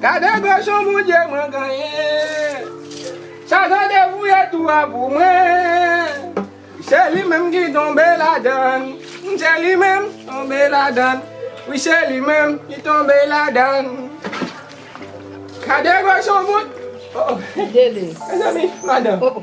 Gade grosè Bondye mwen genyen. Satan te fouye tou a pou mwen. Se li menm ki tonbe ladann. Se li menm tonbe ladann. Wi se li menm ki tonbe ladann. Gade grosè Bondye. Oh oh. Mezanmi madan. Oh oh.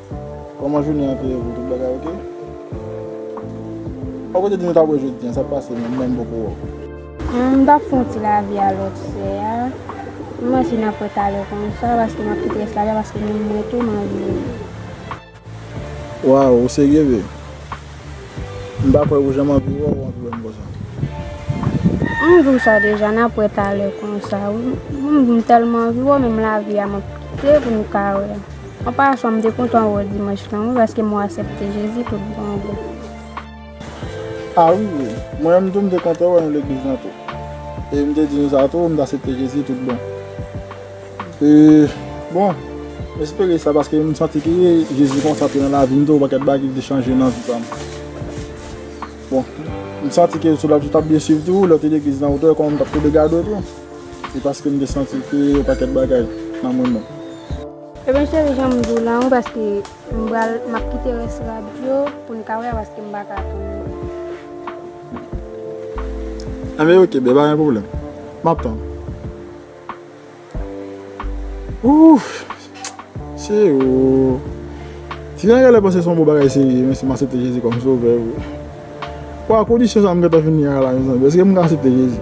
Koman jounen an te ye pou tout bagay ok. Poko te di nou tap wè jodi an sak pase menm menm poko wè w. M tap fon ti lavi a lòt fè a. M panse nap wè talè konsa paske map kite rès lavi a paske menm mwen tou m anvi wè w. Waw ou serye vre? M pa kwè ou janm anvi wè w ou anvi wè m konsa. M di w sa deja nap wè talè konsa wi. M di m tèlman anvi wè w menm lavi a map kite pou nou ka wè. An pasan m te kontan wè w dimanch lan wi paske m wè w asèpte Jezi tout bon vre. Ah wi wi, mwen menm tou m te kontan wè nou legliz lan tou. E m te di nou sa tou m t asepte Jezi tout bon. E bon, m espere sa paske m santi ke Jezi konsa tou nan lavi m tou yon pakèt bagay ki vle chanje nan vi pa m. Bon, m santi ke sou la tou t ap byen swiv tou, lè w te legliz lan ou te wè kòman m t ap koube gade w tou. Se paske m te santi ke yon pakèt bagay nan mwen menm. Ebyen cheri janm diw lan wi paske m pral map kite rès rad yo poun ka wè paske m paka tann yo. Anmeyy ok bby pa gen pwoblèm map tann ouff cheri ooh ti nèg genlè panse son bon bagay serye menm si m asepte jezi kòm sovè vre waw kondisyon sa m gentan vini a la mezanmi eske m ka asepte jezi.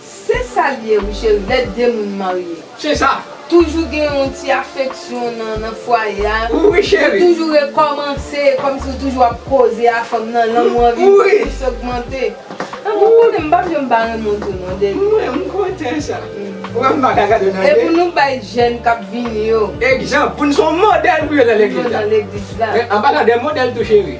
Se sal ye wi cheri lè 2 moun marye. Se sa. Toujou gen yon ti afeksyon nan fwaye a. Wi cheri. Ou toujou rekòmanse kòmsi ou toujou ap koze a fanm nan lanmou an vin plis ogmante. Lanmou an konnen m pap janm pa renmen w tou non Deni. Mwen m kontan sa. Ou wè m pa ka gade w nan je. E pou nou bay jèn kap vini yo. Egzanp pou nou se yon modèl pou yo nan legliz la. Pou yo nan legliz la. Men anpalan de modèl tou cheri.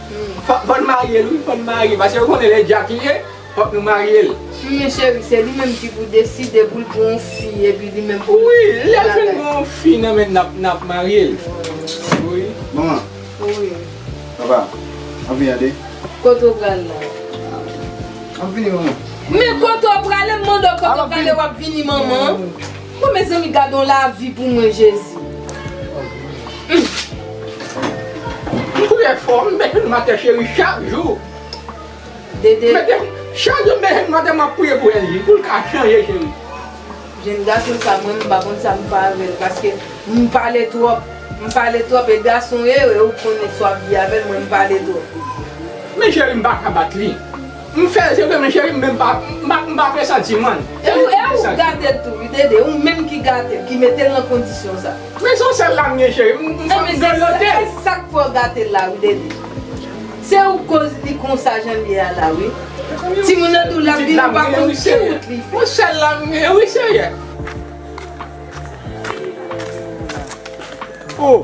Fò n maryel wi fò n marye pase yo konnen lè jack li ye fòk nou maryel. Humm cheri se li menm ki pou deside poul pran yon fi epi li menm poul Wi lèl fin pran yon fi nan menn nap maryel wi. Manman. Wi. Papa. Map vini tande. Kote ou pral la. Map vini manman. Men kote ou prale m mande w kote ou prale wap vini manman. Bon mezanmi gadon lavi pou mwen jezi. M kouri fò m mete nan matè cheri chak jou. Dede. Chak jou m mete nan matè map priye pou Elgi poul ka chanje cheri. Jenn gason sa mwen m pa konn sa m fè avèl paske m pale twòp. M pale twòp e gason e ou konnen sa wap di avèl mwen m pale twòp. Men cheri m paka bat li. M fèl se vre men cheri m menm pa m pa presanti man. E ou e ou gatel tou wi Dede ou menm ki gatel ki metel nan kondisyon sa. Men son sèl la m gen cheri m grelotel. Ebyen se sak fè w gatel la wi Dede. Se ou koz li konsa janl ye a la wi. Timoun nan tou lap vini ou pa konn ki wout li fè. Son sèl la m gen wi seyè. Oh.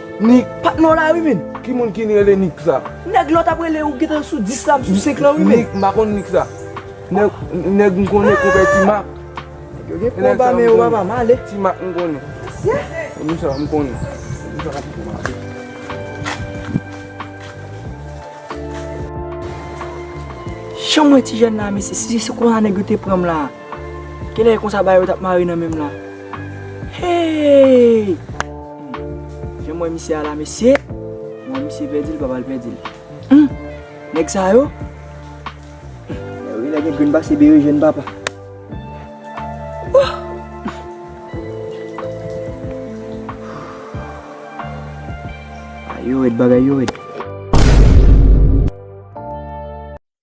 Nik pat non la wi min. Ki moun ki rele Nik sa. Neg lot ap rele ou gentan sou 10 la m sou 5 lan wi min. Nik m pa konn Nik sa. Neg m konnen konpè ti mak. Neg yo gen konba men yo pa pa male. Ti mak m konnen. Se moun sa m konnen. Janm wè ti jèn la mesye si se konsa neg yo te pranm la. Kilè e konsa bagay yo tap mare nan menm la Heyy Humm janm wè misye a la mesye Mwen wè misye pèdi l pap al pèdi l Humm nèg sa yo Humm lè yo genlè gen grenn pase berejèn papa Ohh Bagay yo rèd bagay yo rèd.